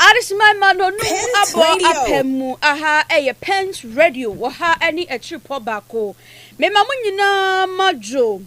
Adesemai Manonu abɔ apɛm mu aha ɛyɛ Pent Radio wɔ ha ɛne akyirepɔ baako mema mo nyinaa ma dwo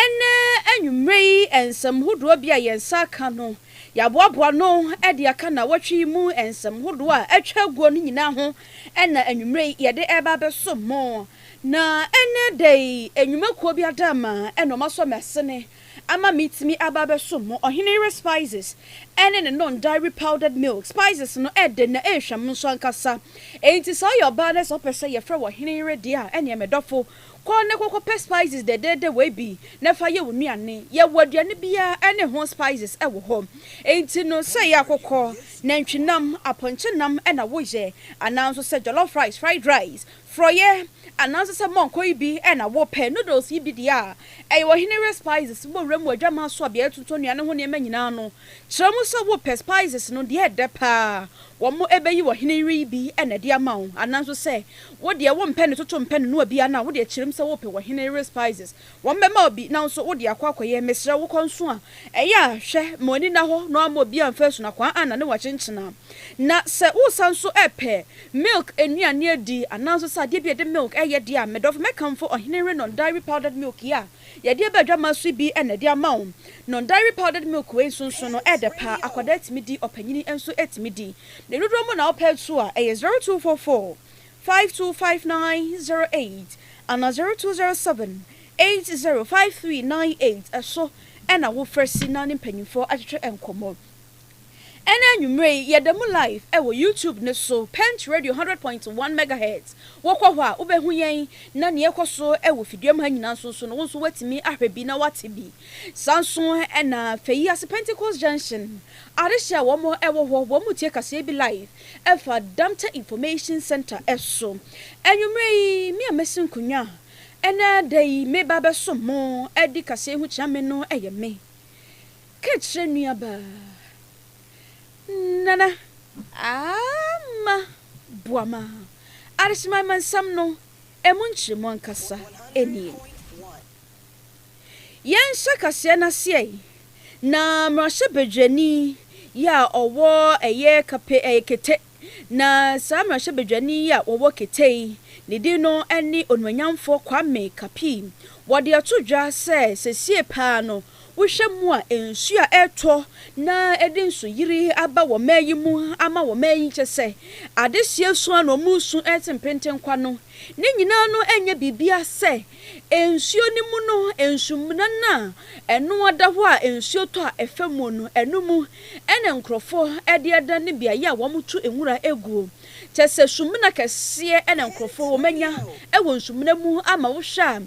ɛnɛ anwummerɛ yi nsɛm hodoɔ bi a yɛn nsa aka no yɛaboaboa no ɛde aka na wɔtwe yi mu nsɛm hodoɔ a atwa aguo no nyinaa ho ɛna anwummerɛ yi yɛde ɛba bɛso mo na ɛnɛ da yi anwumakuo bi adama ɛna ɔma sɔ mɛsene ama metumi aba abɛsom mo. Ɔhene yere spices ne ne non dairy powdered milk spices no ɛde na ɛrehwɛ mo nso ankasa. Enti sɛ woyɛ ɔbaa na sɛ wopɛ sɛ yɛfrɛ wo ɔhene yere deɛ a, ɛneɛ me dɔfo, kɔ na kɔkɔpɛ spices dɛdɛɛdɛ wei bi na fa yɛ wo nnuane. Yɛwɔ aduane biara ne ho spices wɔ hɔ. Enti no, sɛ ɛyɛ akokɔ, nantwinam, apɔnkyenam na woyɛ, anaa nso sɛ jollof rice, fried rice, Frɔyɛ, anaa nso sɛ mɔnkɔ yi bi na wopɛ. Noodles yi bi deɛ a ɛyɛ Ɔhene Ray Spices wɔ Wuram wɔ Adwaman so a beaɛ yɛtontɔn nnuane ho nneɛma nyinaa no. Kyerɛ mu sɛ wopɛ spices no deɛ ɛdɛ paa wɔn ɛbɛyi wɔ Ɔhene Ray yi bi na ɛde ama wo. Anaa nso sɛ wo deɛ wompɛ ne toto mpɛ ne noa biara no a, wo deɛ kyerɛ mu sɛ wopɛ Ɔhene Ray Spices. Wɔbɛma wo bi, nanso wode akɔ akɔyɛ. Mesrɛ wo, kɔ nso a. Ɛyɛ a, hwɛ ma w'ani nna hɔ na woamma obiara amfa asunakwaa anna ne wakyenkyena. Na sɛ wosan nso repɛ milk nnuane adi, anaa nso sɛ adeɛ bi a yɛde milk yɛ deɛ a, me dɔfo, mɛkamfo Ɔhene Renon Dairy Powdered Milk yi a yɛde aba adwammaa so yi bi na ɛde ama wo. Non Dairy Powdered Milk wei nso nso no, ɛyɛ dɛ pa ara, akwadaa tumi di, ɔpanin nso tumi di. Ne dodoɔ mu na wopɛ nso a, ɛyɛ zero two four four 525908 ana 0207 805398 so na wo frɛ si na ne mpanyimfoɔ atwetwe nkɔmmɔ. Ɛna anwummerɛ yi yɛda mu live wɔ YouTube no so, Pent Radio 100 point 1 megahertz, wo kɔ hɔ a wo bɛhu yɛn na nea ɛkɔ so wɔ fidua mu ha nyinaa nso nso no wo nso woatumi ahwɛ bi na woate bi. Saa nso na Fayiase Pentecost Junction adehye a wɔn wɔ hɔ wɔn tie kaseɛ bi live ɛfa Dante Information Centre so. Anwummerɛ yi, me a masi nkonnwa a ɛnnɛ da yi mereba abɛsom mo adi kaseɛ ho kyea me no yɛ me. Ka kyerɛ nuabaa, Nana, Aama, Boama, Adesemaimansɛm no ɛmu nkyerɛmu ankasa nie. Yɛnhyɛ kaseɛ no aseɛ yi, na mmarahyɛbadwani yi a ɔwɔ ɛyɛ kape ɛyɛ kete, na saa mmarahyɛbadwani yi a ɔwɔ kete yi, ne din no ɛne Onuonyamfoɔ Kwame Kapii. Wɔde ato dwa sɛ sesie paa no, wohwɛ mu a nsuo a ɛretɔ na ɛde nsuyiri aba wɔ man yi mu ama wɔ man yi kyɛ sɛ adehyeɛ su a na wɔresu ɛrete mpenten kwa no, ne nyinaa no ɛnyɛ biribiara sɛ Nsuo no mu no, nsumena no a ɛno ada hɔ a nsuo tɔ a ɛfa mu no, ɛno mu na nkurɔfoɔ de adane beaeɛ a wɔto nwura guo. Kyerɛ sɛ, sumena kɛseɛ na nkurɔfoɔ wɔanya wɔ nsumena mu ama wohwɛ a,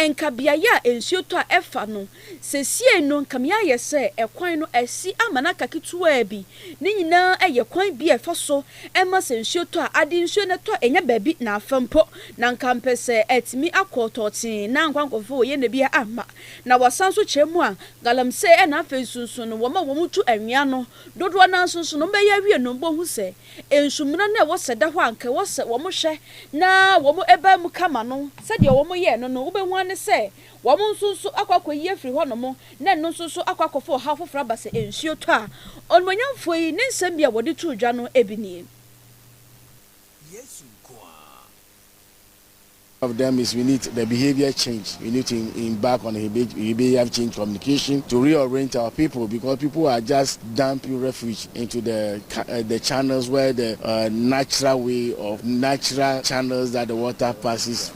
ɛnka beaeɛ a nsuo tɔ a ɛfa no, Sesiei no nka me ayɛ sɛ ɛkwan no asi ama no aka ketewaa bi. Ne nyinaa yɛ kwan bi a ɛfa so ma sɛ nsuo tɔ a ade nsuo na ɛtɔ ɛnyɛ baabi na afa mpo. Na nka mpɛ sɛ atumi akɔ tɔɔtee na anka nkorɔfoɔ wɔ yɛ na biaa amma. Na wɔasan nso kyerɛ mu a galamsey na afei nso nsu no wɔma wɔn tu anwea no dodoɔ no ara nso nso no wɔbɛyɛ awie no wɔhu sɛ nsu muna no a ɛwɔ sɛ da hɔ a nka ɛwɔ sɛ wɔn hwɛ na wɔn bae mu kama no. Sɛdeɛ wɔn yɛɛ no no wobɛhu ara ne sɛ Wɔn nso nso akɔ akɔyi afiri hɔnom, na ɛno nso nso akɔ akɔfa ɔhaw foforɔ aba sɛ nsuo tɔ a. Onimuonyamfoɔ yi ne nsɛm bi a wɔde too dwa no bi nie. Yesu nko ara. One of them is we need the behavior change, we need to embark on behavior change communication to reorient our people because people are just dumping refuge into the the channels where the natural way of natural channels that the water passes.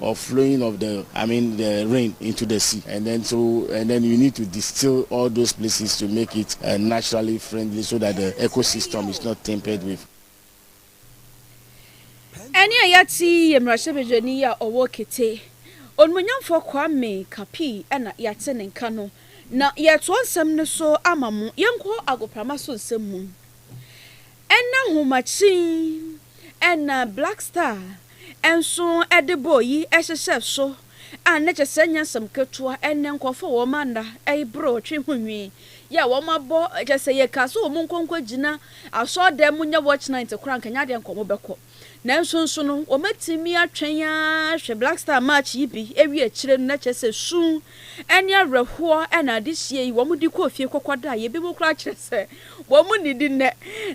of flowing of the I mean the rain into the sea and then so and then you need to distill all those places to make it uh, naturally friendly so that the ecosystem is not tempered with. ɛne a yɛate yi yɛ mmarahyɛbadwani yi a ɔwɔ kete onumonyamfoɔ kwame kapi ɛna yɛate ne nka no na yɛtoɔ nsɛm no so ama mo yɛnkɔ agoprama so nsɛm mu. Ɛna nhoma kyin ɛna Black Star nso de bɔɔ yi hyehyɛ so a na kyɛ sɛ ɛnyɛ nsɛm ketewa ɛnɛ nkorɔfoɔ wɔn ana ɛyi boro ɔtwe ho nwi yɛ a wɔn abɔ kyɛ sɛ yɛ ka sɛ wɔn nkɔ nkɔ gyina asɔɔdan mu nyɛ watch night koraa nka nyɛ adeɛ nka wɔn bɛkɔ. Nanso nso no, wɔbɛtumi atwɛn ara ahwɛ Black Star March yi bi awie akyire no, na kyerɛ sɛ su ne awerɛhoɔ na adehyeɛ yi wɔde kɔɔ fie kɔkɔdaeɛ. Ebinom koraa kyerɛ sɛ wɔnnidi nnɛ.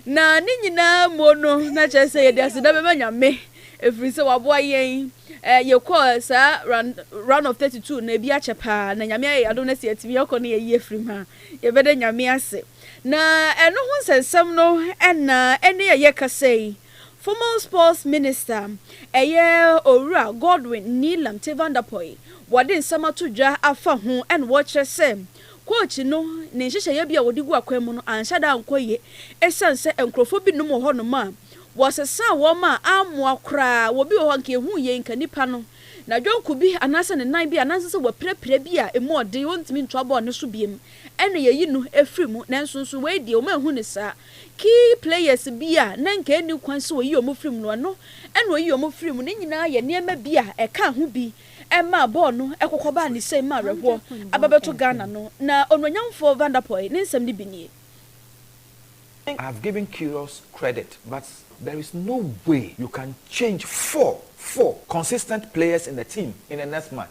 Na ne nyinaa mu no, na kyerɛ sɛ yɛde aseda bɛma Nyame, ɛfiri sɛ waboa yɛn, yɛkɔɔ saa run, run of 32 no, ebi akyɛ paa, na Nyame ayɛ yɛn adom na sɛ yɛtumi akɔ no yɛyi afirim a, yɛbɛda Nyame ase. Na ɛno ho nsɛnsɛm no na ɛne a yɛkasa yi formal sports minister ɛyɛ Owura Godwin Nilam Tevandapoy wɔde nsɛm ato dwa afa ho ɛna wɔkyerɛ sɛ coach no ne nhyehyɛeɛ bi a wɔde gu akwan mu no anhyɛ da ankɔ yie ɛsiane sɛ nkurɔfoɔ binom wɔ hɔ nom a wɔsesaa wɔn a ammoa koraa wɔ bi wɔ hɔ nka yɛhuu yei nka nipa no nadwonko bi anaasɛ ne nan bi a na nsɛ sɛ wɔapirapira bi a ɛmu ɔden ɔntumi ntoa bɔɔl no so biom ɛna yɛyi no firi mu, nanso nso wei deɛ wɔn anhu no saa. Key players bi a na nka ɛnni kwan sɛ wɔyi wɔn firi mu no, ɛno ɛna wɔyi wɔn firi mu. Ne nyinaa yɛ nneɛma bi a ɛkaa ho bi maa bɔɔl no kɔkɔ baa ne sɛe maa awerɛhoɔ aba bɛto Ghana no. Na Onuonyamfoɔ Van der Poel ne nsɛm no bi nie. I have given Kyrgios credit but there is no way you can change four four consistent players in the team in the next match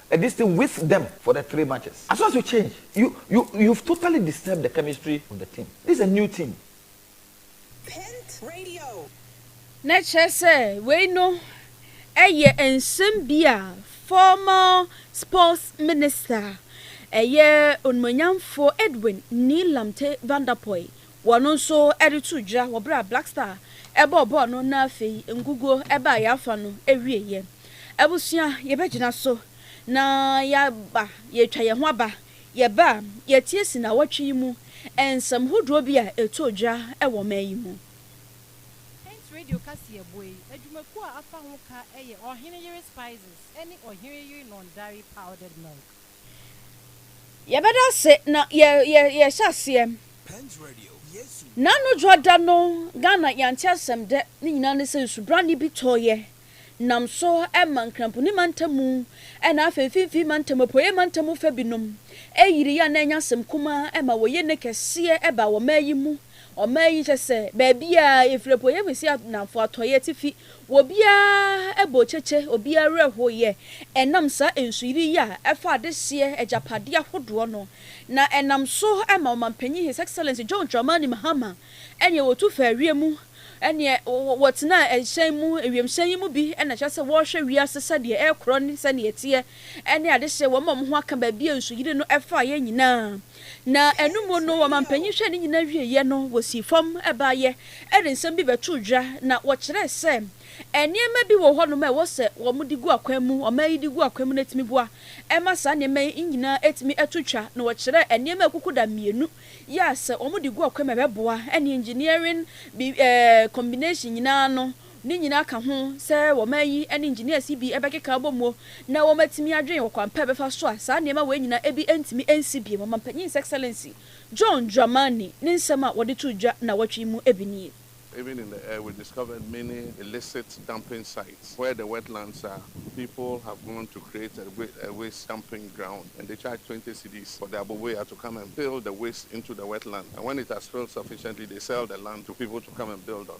And this thing with them for the three matches as soon as you change you you you've totally disturbed the chemistry of the team this is a new team. Pent Radio. Na kyerɛ sɛ wei no yɛ nsɛm bi a former sports minister a ɛyɛ Onumonyamfoɔ Edwin Nii Lamte Van Der Poel Wɔn nso de too dwa wɔ bere a Black Star bɔɔ bɔɔl no na afei nguguo baa yɛn afa no awieeɛ. Abusua, yɛbɛgyina so na yɛaba, yɛretwa yɛn ho aba. Yɛba a, yɛatie si nnawɔtwe yi mu nsɛm hodoɔ bi a ɛtoo dwa wɔ ɔman yi mu. Saint Radio kaseɛbɔ yi adwumakuo a afa ho ka yɛ Ɔhene Yere Spices ne Ɔhene Yere Nɔndare Powdered Milk. Yɛbɛda ase na yɛ yɛ yɛhyɛ aseɛ. Na no dwoa da no Ghana yɛante asɛm dɛ ne nyinaa ne sɛ nsubrane bi tɔɔeɛ nam so ma Nkramponi mantamu na afei Mfimfini mantamu, Apueɛ mantamu fa binom ɛyiriiɛ a na ɛnyɛ asɛm kumaa ma wɔyɛ ne kɛseɛ baa wɔmaa yi mu. Ɔman yi kyɛ sɛ baabiara, yɛfiri apueeɛ kɔsi anafo, atɔeɛ, atifi, wɔ biara bɔ kyekyɛ, obiara werɛ hoeɛ, ɛnam saa nsuyiri yi a ɛfa adehyeɛ agyapadeɛ ahodoɔ no, na ɛnam so ma Ɔmanpanin His Excellency John Dramani Mahama ɛnneɛ wɔtu faa wiem, ɛnneɛ wɔtenaa ɛhyɛn mu, wiemhyɛn yi mu bi na kyerɛ sɛ wɔrehwɛ wiase sɛdeɛ ɛrekorɔ ne sɛdeɛ ɛteɛ, ɛne adehyeɛ wɔn a wɔn ho aka baabi a nsuyiri no faeɛ nyinaa. Na ɛno mu no, ɔmampanyin hwɛɛ ne nyinaa wieeɛ no, wɔsii fam baeɛ de nsɛm bi bɛtoo dwa, na wɔkyerɛɛ sɛ nneɛma bi wɔ hɔnom a ɛwɔ sɛ wɔde gu akwan mu, ɔman yi de gu akwan mu na ɛtumi boa ma saa nneɛma yi nyinaa atumi ato twa. Na wɔkyerɛɛ nneɛma akukuda mmienu yi a sɛ wɔde gu akwan mu a ɛbɛboa, ɛne engineering bi ɛɛ combination nyinaa no. Ne nyinaa ka ho sɛ wɔ ɔman yi ne engineers yi bi bɛkeka abɔ mu na wɔatumi adwen ɔkwan pa a ɛbɛfa so a saa nneɛma wei nyinaa ebi ntumi nsi bio. Ɔmampanyin His Excellency John Dramani ne nsɛm a wɔde too dwa nnawɔtwe yi mu bi nie. Even in the air we discovered many illicit dumping sites where the wetlands are people have gone to create a a waste dumping ground and they charge twenty cedis for the aboboya to come and fill the waste into the wetland and when it has filled sufficiently they sell the land to people to come and build on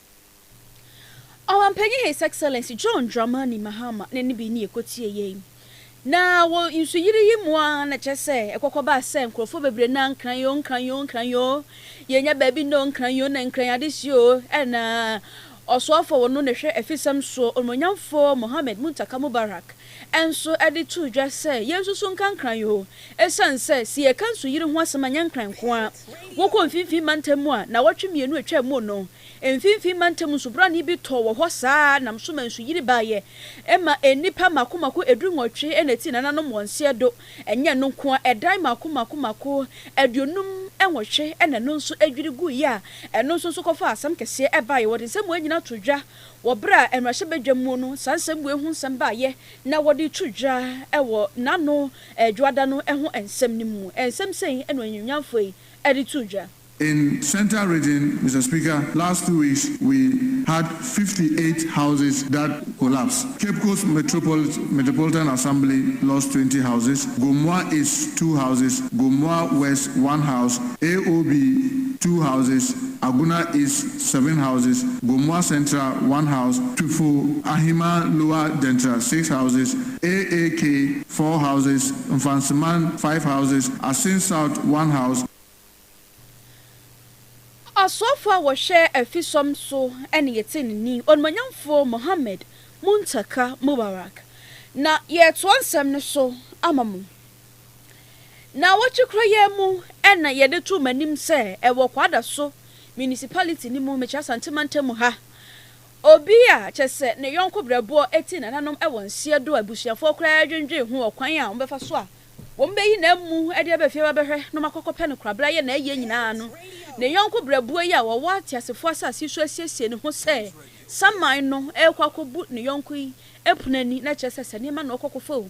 Ɔmampanyin His Excellency John Dramani Mahama ne ne benin yi kotie yɛn. Na wɔ nsuyiri yi mu ara na kyerɛ sɛ ɛkɔkɔ baa sɛ nkurɔfoɔ bebree na Nkran oo, Nkran oo, Nkran oo, yɛnnya baabi nna oo, Nkran oo, na Nkran adesua oo, ɛna Ɔsoafoɔ a wɔno na ɛhwɛ afisɛm soɔ, Onuonyamfoɔ Mohammed Muntaka Mubarak, nso de too dwa sɛ yensusuw nkankran yi ho esiane sɛ sɛ yɛka nsuyiri ho asɛm a ɛnyɛ Nkran nko ara. Wokɔ Mfinimfini Mantam mu a, nnawɔtwe mmienu a etwaam mu no, Mfinimfini Mantam nsubɔnne bi tɔɔ wɔ hɔ saa ara nam so ma nsuyiri baeɛ. Ɛma nnipa mmaako mmaako edu nwɔtwe na etii nananom wɔn seɛ do. Ɛnyɛ ɛno nko ara, ɛdan mmaako mmaako mmaako aduonum nwɔtwe na ɛno nso dwiri guiɛ a ɛno nso nso kɔfaa asɛm kɛseɛ baeɛ. Wɔde nsɛm wei nyinaa too dwa. Wɔ bere a mmarahyɛbadwam mu no saa nsɛmbue ho nsɛm baeɛ na wɔde reto dwa wɔ N'ano Dwoada no ho nsɛm no mu. Nsɛm sɛn na ɔanyinimnyamfoɔ yi de too dwa? In Centre Region Mister Speaker last two weeks we had fifty eight houses that collapsed, Cape Coast Metropolit Metropolitan Assembly lost twenty houses, Gomoa East two houses, Gomoa West one house, AOB two houses, Agona East, seven houses, Gomoa Central, one house, Twifo, Ahima Lower Dentra, six houses, AAK, four houses, Mfantsiman, five houses, Asin South, one house, Ɔsoafo a wɔhwɛ afisɔm so ne yɛn tsenenee Onmuonyamfo Mohammed Muntaka Mubarak na yɛretoa nsɛm no so ama mo. Nnawɔtwe koro yi ara mu na yɛde too m'anim sɛ wɔ Kwadaso Municipality no mu, mekyerɛ Asante Mantam mu ha, obi a kyerɛ sɛ ne yɔnko berɛboɔ ti nananom wɔ nseɛ do a abusuafoɔ koraa dwendwen ho ɔkwan a wɔbɛfa so a wɔbɛyi no amu de aba fie abɛhwɛ na wɔakɔkɔpɛ no koraa berɛ a yɛ na ayɛ nyinaa no ne yɔnko berɛboɔ yi a ɔwɔ ateasefoɔ asase so asiesie ne ho sɛ saman no rekɔ akɔbu ne yɔnko yi pono ani na kyerɛ sɛ sɛ nneɛma na ɔkɔkɔfa o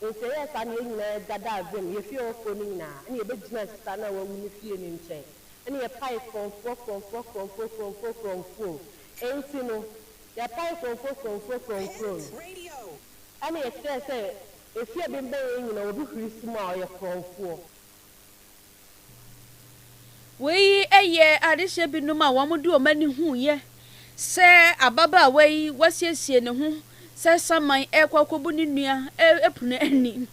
Enti yɛyɛɛ saa na yɛn nyinaa dadaa fam, yefii hɔ kɔɔ ne nyinaa, ɛnna yebegyinaa sista no a wawu no fie no nkyɛn, ɛnna yɛpaee korɔmfoɔ, korɔmfoɔ, korɔmfoɔ, korɔmfoɔ, korɔmfuo. Enti no, yɛpaee korɔmfoɔ, korɔmfuo, korɔmfuo no, ɛnna yɛkyerɛɛ sɛ efi a ɛbemmɛn yɛn nyinaa obi huri so mu a, ɔyɛ korɔmfoɔ. Wei yɛ adehyɛ binom a wɔde wɔn ani huiɛ sɛ ababaawa yi wasiesie ne ho sɛ saman rekɔ akɔbu ne nua ɛpono ani.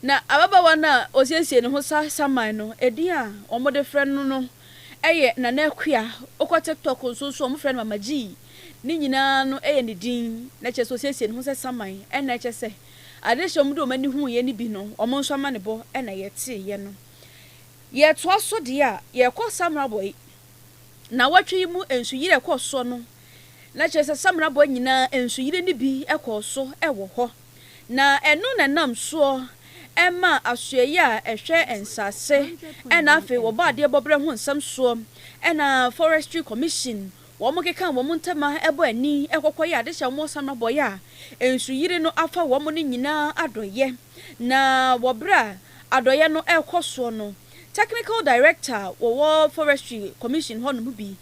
Na ababaawa no a ɔsiesie ne ho sa saman no, ɛdin a wɔde frɛ no no yɛ Nana Akua. Wokɔ TikTok nso so a wɔfrɛ no Mama G. Ne nyinaa no yɛ ne din. Na kyerɛ sɛ ɔsiesie ne ho sɛ saman. Ɛna ɛkyɛ sɛ Adehye a wɔde wɔn ani huiɛ no bi no, wɔn nso amanebɔ na yɛteeɛ no. Yɛtoa so deɛ a, yɛkɔ Samrabɔi. Nnawɔtwe yi mu nsuyire a ɛkɔɔ soɔ no, na kyerɛ sɛ Samrabɔi nyinaa nsuyire no bi kɔɔ so wɔ hɔ. Na ɛno na ɛnam soɔ maa Asoɛeɛ a ɛhwɛ Nsase na afei wɔbɔ adeɛ bɔberɛ ho nsɛm soɔ na Forestry Commission Wɔkeka wɔn ntam a ɛbɔ ani kɔkɔ yɛ adehyɛ a wɔsane bɔ yɛ a Nsuyiri no afa wɔn no nyinaa adɔeɛ, na wɔ berɛ a adɔeɛ no rekɔ soɔ no, Technical Director wɔwɔ Forestry Commission hɔnom bi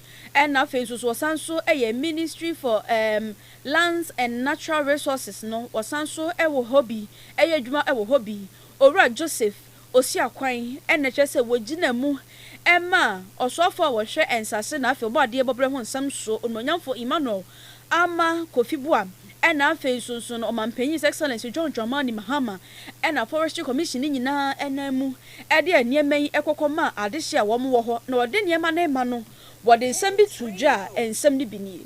na afei nso so ɔsane nso yɛ Ministry for um Lands and Natural Resources no wɔsane nso wɔ hɔ bi yɛ adwuma wɔ hɔ bi, Owura Joseph Osia kwan na ɛkyerɛ sɛ wɔgyina mu ma ɔsoafo a wɔhwɛ nsase na afei ɔbɔ adeɛ bɔberɛ ho nsɛm so Onuonyamfo Emmanuel Ama Kofi Boa na afei nso nso no Ɔmanpanyin His Excellency John Dramani Mahama na Forestry Commission no nyinaa nam mu de nneɛma yi kɔkɔ maa adehye a wɔwɔ hɔ na wɔde nneɛma no rema no wɔde nsɛm bi too dwa a nsɛm no bi nie.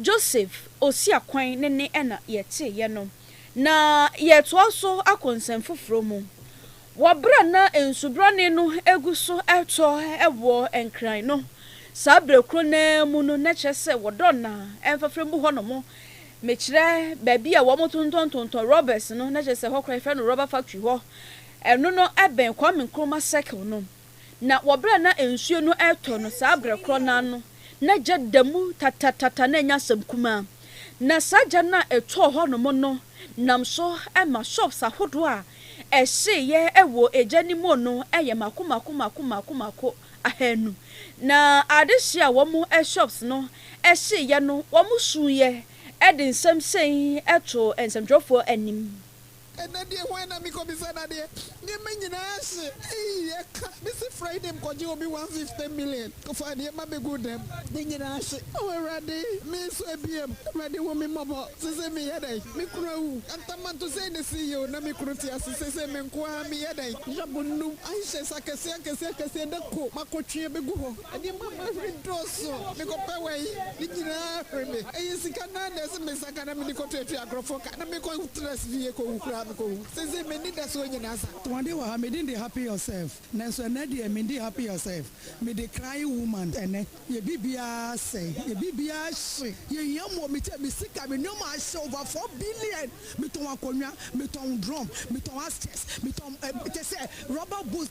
Joseph Osiakwan ne ne ɛna yɛteeɛ no, na yɛretoa so akɔ nsɛm foforɔ mu. Wɔ berɛ a na nsubrane no gu so retɔ wɔ Nkran no, saa berɛ korɔ no ara mu no, na kyerɛ sɛ wɔ Dɔnna mfafrɛ mu hɔ nom, mekyerɛ baabi a wɔtontɔntontɔn rɔbɛs no, na kyerɛ sɛ hɔ koraa yɛfrɛ no rɔba factory hɔ, ɛno no bɛn Kwame Nkrumah Circle no. Na wɔ berɛ a na nsuo no retɔ no, saa berɛ korɔ no ara no, na gya da mu tatatata, na ɛnyɛ asɛm kumaa. Na saa gya no a ɛtɔɔ hɔnom no nam so ma shops ahodoɔ a ɛhyeeɛ wɔ gya no mu no yɛ mako mako mako mako mako ahanu. Na adehyeɛ a wɔn shops no hyeeɛ no, wɔsuiɛ de nsɛm sei too nsɛmtwerɛfoɔ anim. Ɛnɛ deɛ hwan na mekɔ bisa no adeɛ? Nneɛma nyinaa hye eii ɛka me se Friday mkɔgye obi one fifty million kɔfaa nneɛma bɛguu dɛm ne nyinaa hye oh awurade me nso ɛbiam awurade hu me mmɔbɔ sesei meyɛ dɛn me kunu awu antamanto sei ne ceo na me kunu te ase sesei me nkoaa meyɛ dɛn yabo nnum ahyɛ sɛ akɛseɛ akɛseɛ akɛseɛ dako makɔtwe ɛbɛgu hɔ Ɛdeɛ ma m'ahuri dɔɔso, mekɔpɛ wɔ yi, ne nyinaa huri me. Ɛyɛ sika no ara na ɛsɛ me nsa ka na mede kɔtuatua agorɔfoɔ ka na mekɔtra fie kɔwu koraa mekɔwu. Seesei me anidasoɔ nyinaa sa. Wɔde wɔ ha, me din de Happy Yourself, nanso ɛnnɛ deɛ mendi Happy Yourself, mede Crying Woman. Ɛnnɛ, yɛn biribiara asɛe, yɛn biribiara ahye, yɛhia mmoa, me kyɛ, me sika, me nneɛma ahye over four billion, metɔn akonnwa, metɔn drum, metɔn armchairs, metɔn te sɛ rubber boots,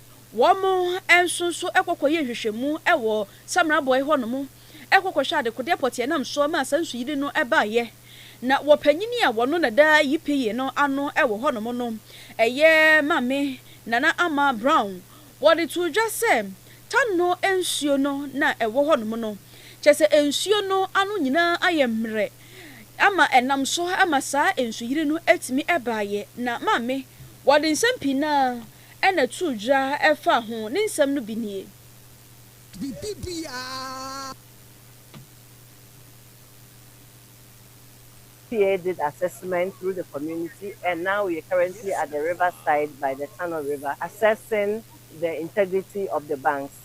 Wɔn nso so kɔkɔ yɛɛ nhwehwɛmu wɔ Samara Bɔe hɔ nom, kɔ kɔhwɛ adekodeɛ pɔteɛ nam soɔ maa saa nsuyiri no baeɛ. Na wɔ panyini a wɔno na da Yipeye no ano wɔ hɔ nom no, ɛyɛ Maame Nana Ama Brown, wɔde too dwa sɛ Tanno nsuo no na ɛwɔ hɔ nom no. Kyerɛ sɛ nsuo no ano nyinaa ayɛ mmerɛ ama ɛnam so ma saa nsuyiri no tumi baeɛ. Na Maame, wɔde nsɛm pii na. na too dwira faa ho. Ne nsɛm no bi nie. Biribiara. Tia did assessment through the community and now we are currently at the river side by the Tano river assessing the integrity of the banks.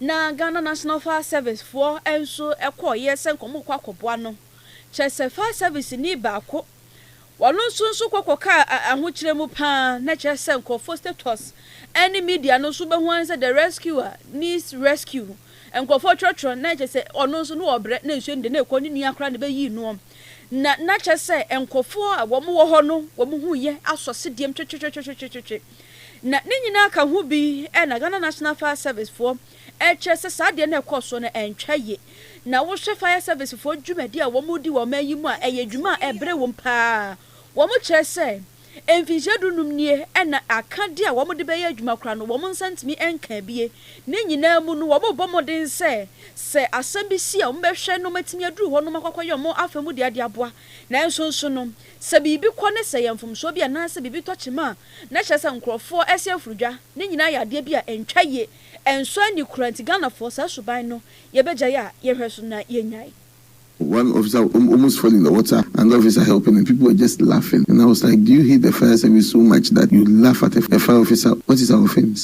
na Ghana National Fire Service foɔ nso kɔeɛ sɛ nka wɔrekɔ akɔboa no, kyerɛ sɛ fire service ni baako wɔn nso nso kɔ kɔkaa ahokyerɛ mu pa ara, na kyerɛ sɛ nkorɔfoɔ status ne media no nso bɛhu ara sɛ the rescuer needs rescue, nkorɔfoɔ twerɛtwerɛ na kyerɛ sɛ ɔno nso na ɔrebrɛ na nsuo no deɛ na ɛkɔ ne nua koraa na ɛbɛyii noɔ, na na kyerɛ sɛ nkorɔfoɔ a wɔn wɔ hɔ no wɔn ho reyɛ asɔ sedeɛm twetwetwetwetwetwe. Na ne nyinaa ka ho bi na Ghana National Fire Service foɔ ɛkyerɛ sɛ saa adeɛ no a ɛkɔɔ soɔ no ɛntwa yie. Na wohwɛ Fire Service foɔ dwumadie a wɔn redi wɔ ɔman yi mu a ɛyɛ adwuma a ɛbrɛ wɔn pa ara. Wɔn kyerɛ sɛ mfinhyia du nnum nie ɛna akadeɛ a wɔn de bɛyɛ adwuma koraa no wɔn nsa ntumi nkaa bi. Ne nyinaa mu no wɔn rebɔ mmɔden sɛ sɛ asɛm bi si a wɔn bɛhwɛ na wɔatumi aduru hɔ nom akɔ akɔyɛ wɔn afa mu deɛ de aboa. Nanso nso no Sɛ biribi kɔ ne sɛ ɛyɛ mfomsoɔ bi anaasɛ biribi tɔ kyema a, na kyerɛ sɛ nkorɔfoɔ ɛsi afrodwa. Ne nyinaa yɛ adeɛ bi a ɛntwa yie, ɛnsɔ ani koraa nti Ghanafoɔ saa suban no yɛbɛgyae a yɛnhwɛ so na yɛnnyae. One officer will almost fall in the water and the officer helping and people were just laughing and I was like do you hate the fire service so much that you laugh at a fire officer what is our offence?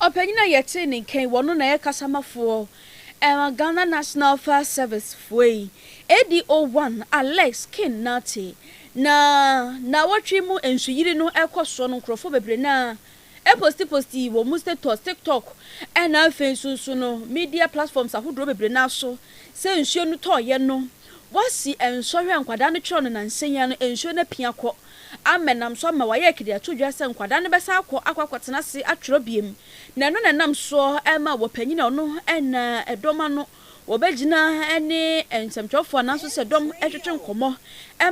Ɔpanyin a yɛtee ne nka yi, wɔno na yɛ kasamafoɔ ɛma Ghana National Fire Service foɔ yi, ADO one Alex King Nartey. Na naawɔtwe mu nsuyiri no ɛkɔ soɔ no, nkorɔfoɔ bebree no ara ɛposti posti wɔn mu status, TikTok ɛna afei nso nso no media platforms ahodoɔ bebree no ara so sɛ nsuo no tɔɔyɛ no, wɔasi nsɔhwɛ a nkwadaa no twerɛ no nansa yi ara no nsuo no apia kɔ. ama ɛnam so ama wɔayɛ akidi ato dwa sɛ nkwadaa no bɛsan akɔ akɔ akɔtena ase atwerɛ bio, na ɛno na ɛnam soɔ ma wɔpanyin a ɔno na ɛdɔm ano wɔbɛgyina ne nsɛmtwerɛfoɔ ananso sɛ dɔm twetwe nkɔmmɔ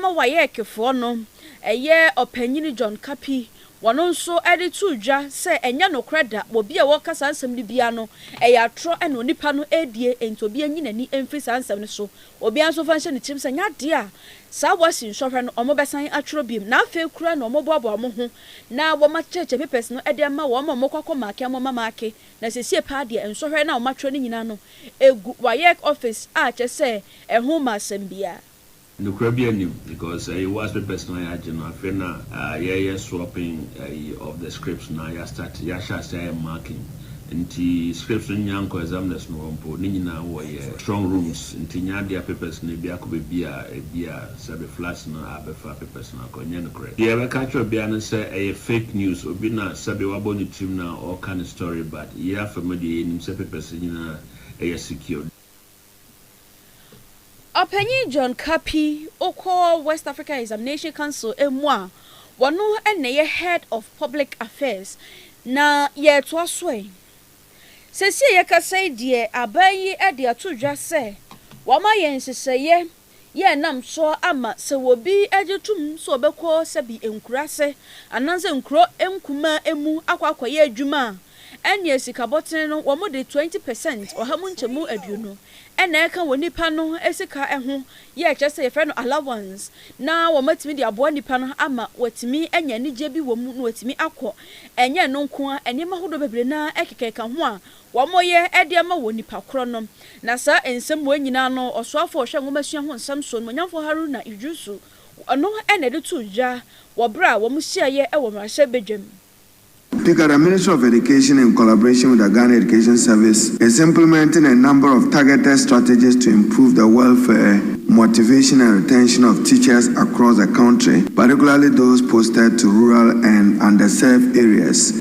ma wɔayɛ ɛkefoɔ no, ɛyɛ Ɔpanyin John Kapi, wɔn nso de too dwa sɛ ɛnyɛ nokorɛ da, obi a ɔreka saa nsɛm no biara no, ɛyɛ atorɔ na onipa no redie, enti obiara nyi n'ani mfiri saa nsɛm no so. Obiara nso mfa nhyɛ ne tirim sɛ ɛnyɛ adeɛ a saa Wasi nsɔhwɛ no wɔbɛsan atwerɛ bio na afei koraa na wɔboaboa wɔn ho na wɔma church papers no de ma wɔn ma wɔkɔ akɔ make wɔn ma make na sesie paa deɛ nsɔhwɛ no a wɔatwerɛ no nyinaa no ɛgu waec office a kyerɛ sɛ ɛho mma asɛm biara. Nokora biara nnim because ɛyɛ Wasi papers no a yɛagye no afei na yɛreyɛ swapping ɛyi of the scripts na yɛastart yɛahyɛ aseɛ ayɛ marking. nti scripts no nnya nkɔ examiners no hɔ mpo, ne nyinaa wɔyɛ strong rooms nti nnya adea papers no ebi akɔ baabi a ebia sɛbe floods no abɛfa papers no akɔ, ɛnyɛ nokorɛ. Deɛ yɛbɛka akyerɛ obiara ne sɛ ɛyɛ fake news, obi na sɛbe wabɔ ne tirim na ɔreka ne story but yei afam deɛ yɛnim sɛ papers no nyinaa yɛ secured. Ɔpanyin John Kapi, ɔkɔ West Africa Examination Council mu a ɔno na ɛyɛ Head of Public Affairs, na yɛretoa so ɛ. Seesei yɛkasa yi deɛ aban yi de ato dwa sɛ wɔayɛ nhyehyɛeɛ yɛ nam so ama sɛ obi gye tom sɛ ɔbɛkɔ sɛbi nkuraase anaasɛ nkuro nkumaa mu akɔ akɔyɛ adwuma a, ɛneɛ sika bɔtene no wɔde twenty percent, ɔha mu nkyɛmu aduonu, na ɛka wɔ nipa no sika ho yɛ kyerɛ sɛ yɛfrɛ no allowance na wɔatumi de aboa nipa no ama watumi anya anigyeɛ bi wɔ mu na watumi akɔ. Ɛnyɛ ɛno nko ara, nneɛma ahodoɔ bebree no ara keka keka ho a Wɔyɛ de ama wɔ nnipa korɔ no. Na saa nsɛm wei nyinaa no, ɔsoafoɔ a ɔhwɛ nwomasua ho nsɛm soɔ, Animuonyamfoɔ Haruna Iddrisu, ɔno na ɛde too dwa wɔ berɛ a wɔhyiaeɛ wɔ mmarahyɛbadwam. The Ghana Ministry of Education in collaboration with the Ghana Education Service is implementing a number of targeted strategies to improve the welfare, motivation and retention of teachers across the country, particularly those posted to rural and underserved areas.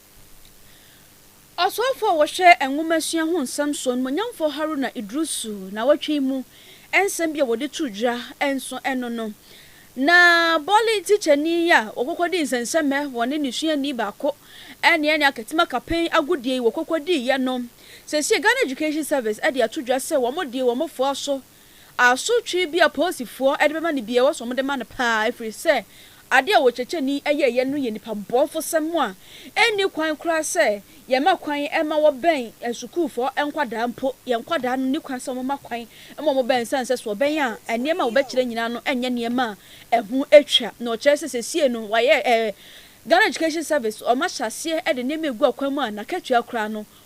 Ɔsomfo a wɔhwɛ nwomasua ho nsɛm so, Onuonyamfo Haruna Iddrisu nnawɔtwe yi mu nsɛm bi a wɔde too dwa nso ɛno no. Na bɔle tikyani a ɔkɔkɔdii nsɛnsɛmɛ wɔ ne ne suani baako ne ne akatim akapɛn agodie yi wɔkɔkɔdiiɛ no, seesei Ghana Education Service de ato dwa sɛ wɔde wɔn foa so Asotwe bi a polisifoɔ de bɛma no biara, ɛwɔ sɛ wɔde ma no pa ara, ɛfiri sɛ adeɛ a ɔkyerɛkyerɛni yɛeɛ no yɛ nipabɔnefosɛm a ɛnni kwan koraa sɛ yɛma kwan ma wɔbɛn asukuufoɔ nkwadaa mpo. Yɛn nkwadaa no nni kwan sɛ wɔma kwan ma wɔbɛn ɛsiane sɛ sɛ wɔbɛn a, nneɛma a wɔbɛkyerɛ nyinaa no nyɛ nneɛma a ɛho twa, na ɔkyerɛ sɛ seesei no wɔayɛ eh, Ghana Education Service wɔahyɛ aseɛ de nneɛma regu akwan mu a n'akatua koraa no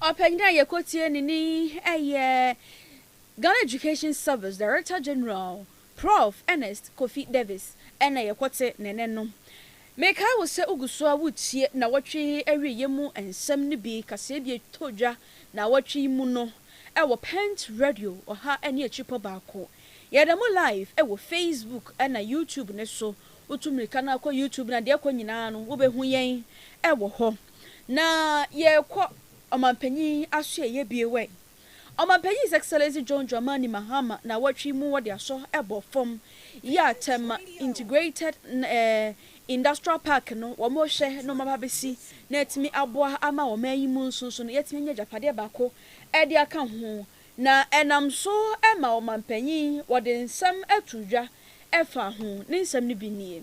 Ɔpanyin a yɛkɔtie ne ni yɛ Ghana Education Service Director General, Prof. Ernest Kofi Davis na yɛkɔte ne nne no. Mekae wo sɛ wogu so ara woretie nnawɔtwe awieeɛ mu nsɛm no bi kaseɛ bi a ɛtɔ dwa nnawɔtwe yi mu no wɔ Pent Radio ɔha ne akyirepɔ baako. Yɛda mo live wɔ Facebook na YouTube no so. Wotu mmirika no ara kɔ YouTube no a, deɛ ɛkɔ nyinaa no, wobɛhu yɛn wɔ hɔ. Na yɛrekɔ Ɔmanpanyin asoɛeɛ bie wɛn. Ɔmanpanyin His Excellency John Dramani Mahama nawɔtwe mu wɔde asɔ bɔ fam yi a Tema Integrated Industrial Park no wɔn rehwɛ na wɔn aba abɛsi na atumi aboa ama ɔman yi mu nso nso no yɛatumi anya agyapadeɛ baako de aka ho na ɛnam so ma Ɔmanpanyin wɔde nsɛm ato dwa fa ho. Ne nsɛm no bi nie.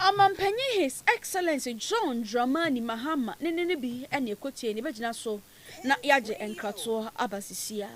Ɔmampanyin His Excellency John Dramani Mahama ne ne no bi na ɛkɔtiei na yɛbɛgyina so na yɛagye nkratoɔ aba sisiaa.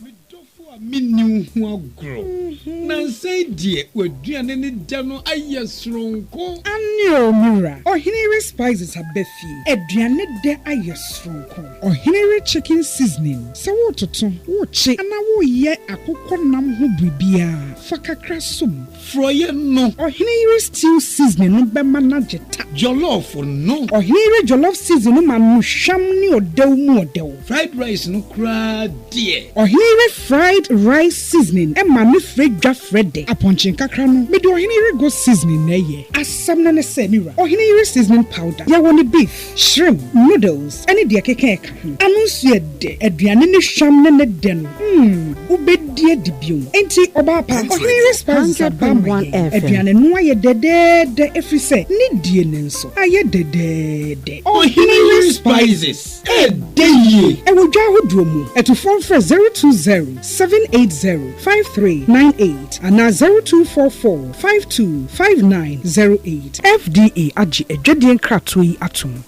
Me dɔfo a menni wo ho agorɔ. Nansa yi deɛ w'aduane ne dɛ no ayɛ soronko. Aane oo me wura, Ɔhene Yere Spices aba fie, aduane dɛ ayɛ soronko. Ɔhene we chicken seasoning, sɛ woretoto, wokye anaa woreyɛ akokɔ nam ho biribiara, fa kakra som. Frɔeɛ no. Ɔhene yere stew seasoning no bɛma no agye ta. Jollof no. Ɔhene yere jollof seasoning no ma no hwam ne ɔdɛw mu ɔdɛw. Fried rice no koraa deɛ. Ɔhene yere fried rice seasoning ma no frɛ dwa frɛ dɛ. Apɔnkye nkakra no, mede ɔhene yere goat seasoning na ɛyɛ. Asɛm no ne sɛ, me wura, ɔhene yere seasoning powder, yɛwɔ no beef. Shrimp, noodles ne deɛ ɛkeka ɛka ho. Ano nso yɛ dɛ. Aduane no hwam ne ne dɛ no, mm, wobɛdi adi bio. Enti ɔbaa pa, Ɔhenyere Spices aba ama yɛn. Aduane no ayɛ dɛdɛɛdɛ ɛfiri sɛ ne die no nso ayɛ dɛdɛɛdɛ. Ɔhenyere Spices, ɛdɛ yie! Ɛwɔ dwa ahodoɔ mu. Atufoɔ mfrɛ 020 780 5398 anaa 0244 Five two five nine zero eight. FDA agye adwadie nkratoɔ yi atom.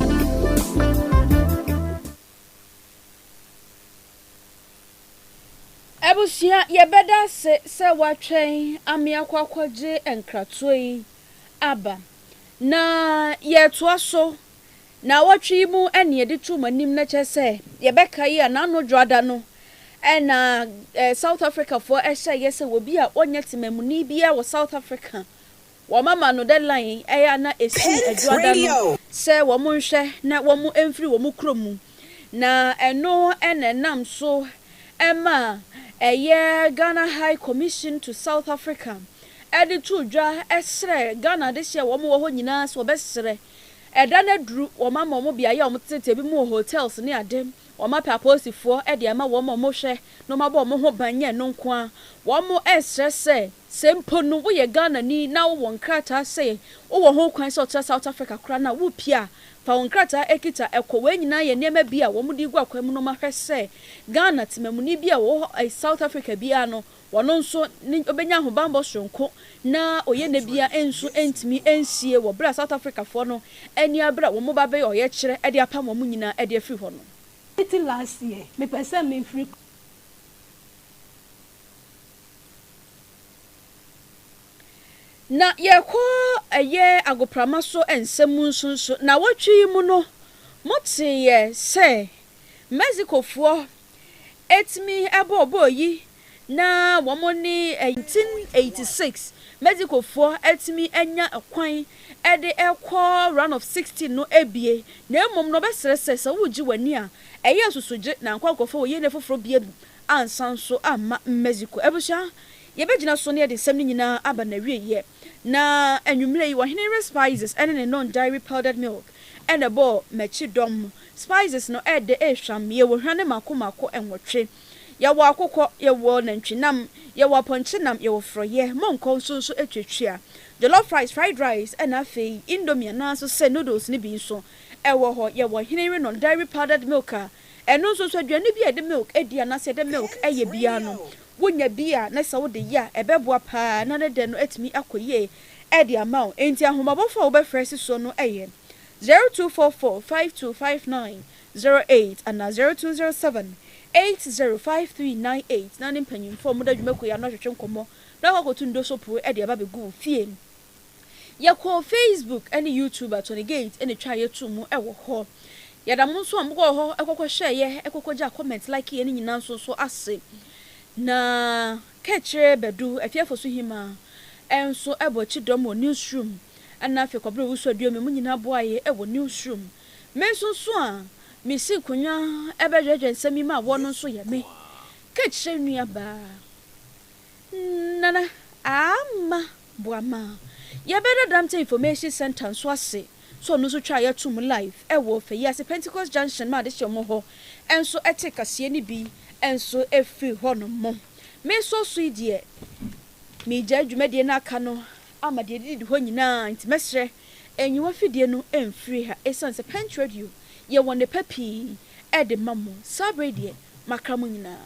Abusua, Yɛbɛda ase sɛ woatwɛn ameakɔ akɔgye nkratoɔ yi aba. Na yɛretoa so Naawɔtwe yi mu na yɛde to mo anim na kyerɛ sɛ yɛbɛka yi a n'ano dwoada no na South Africafoɔ hyɛɛ yɛ sɛ obi a ɔnyɛ temamuni biara wɔ South Africa wɔmama no deadline ɛyɛ a na ɛsii adwoada no sɛ wɔn nhwɛ na wɔn mfiri wɔn kurom mu na ɛno na ɛnam so ma ɛyɛ Ghana High Commission to South Africa ɛde too dwa srɛ Ghana adehyeɛ a wɔn wɔ hɔ nyinaa sɛ wɔbɛsrɛ Ɛda no aduru, wɔama wɔn beaeɛ a wɔtetetete, ebinom wɔ hotels ne ade, wɔapɛ apolisifoɔ de ama wɔn a wɔhwɛ na wɔabɔ wɔn ho ban, nyɛ ɛno nko ara, wɔresrɛ sɛ, sɛ mpo no woyɛ Ghanani na wowɔ nkrataa sɛ wowɔ ho kwan sɛ wotena South Africa koraa no a, worepue a, fa wo nkrataa a ɛkita kɔ. Wei nyinaa yɛ nneɛma bi a wɔde regu akwan mu na wɔahwɛ sɛ Ghana temamuni bi a ɔwɔ South Africa biara no, Ɔno nso ne ɔbɛnya ahobanbɔ soronko na ɔyɛ nɛ bia nso ntumi nsie wɔ berɛ a South Africa foɔ no ani abere a wɔn ba bɛyɛ ɔyɛkyerɛ de apam wɔn nyinaa de afiri hɔ no. Me ti last year me pɛ sɛ me firi. Na yɛkɔ ɛyɛ agoprama so nsɛm mu nso nso. Nawɔtwe yi mu no mo teeɛ sɛ Mexico foɔ etumi bɔɔbɔɔ eyi na wɔn ne ɛyi. 1986 Mexicofoɔ atumi anya kwan de rekɔ Round of 16 no abue na mmom no wɔbɛsrɛ sɛ sɛ woregye w'ani a ɛyɛ asusugye na nkɔ ankɔfa wɔ yɛnɛ foforɔ bia mu ansa nso amma Mexico. Abusua, yɛbɛgyina so na yɛde nsɛm no nyinaa aba n'awieɛ. Na anwummere yi, ɔhene we spices ne ne non-dairy powdered milk na ɛbɔɔ m'akyi dɔm. Spices no yɛ dɛ, ɛyɛ hwam. Yɛwɔ hwa ne mako mako nwɔtwe. Yɛwɔ akokɔ, yɛwɔ nantwinam, yɛwɔ apɔnkyenam, yɛwɔ forɔyɛ, monkɔ nso nso atuatua. Jollof rice, fried rice na afei indomie anaa nso sɛ noodles no bi nso wɔ hɔ. Yɛwɔ ɔhene we non-dairy powdered milk a ɛno nso nso aduane bi a yɛde milk di anaasɛ yɛde milk yɛ biara no, Wonya bi a na sɛ wode yɛ a, ɛbɛboa paa na ne dɛ no atumi akɔ yie de ama wo. Enti ahommɔbɔfo a wobɛfrɛ si soɔ no yɛ, Zero two four four five two five nine zero eight anaa Zero two zero seven eight zero five three nine eight na ne mpanyimfoɔ a wɔda dwumakuo yi ano ahwehwe nkɔmmɔ na wɔakɔtu ndoso poo de aba abɛgu wo fie. Yɛkɔɔ Facebook ne YouTube a Tony Gate na etwaa yɛ too mu wɔ hɔ. Yɛda mo nso a mokɔɔ hɔ kɔkɔhwɛɛ yɛ, kɔkɔgyaa comment, likee yɛ no nyinaa nso nso ase. Na Kɛkyerɛ Badu, Afie Fosu Hima, nso bɔ akyi dɔm wɔ Newsroom, ɛna afei Kɔbere Owusu Aduomi, mo nyinaa boaa yɛ wɔ Newsroom. Me nso nso a misii nkonnwa bɛdwɛdwɛ nsɛm yi mu awɔ no nso yɛ me, Kɛkyerɛ nuabaa. Nana Aamah boa ma yɛbɛda Dampton Information Centre nso ase sɛ ɔno nso twaa yɛ toom live wɔ Fayiase Pentecost Junction ma adehyeɛmɔ hɔ nso tee kaseɛ no bi nso firi hɔ nom. Me nso so yi deɛ megyae dwumadie no aka no ama deɛ ɛdidi hɔ nyinaa nti mɛsrɛ nyiwa fidie no mfiri ha ɛsiane sɛ Pentradio yɛwɔ nnepa pii ɛde ma mo, saa bere deɛ makra mo nyinaa.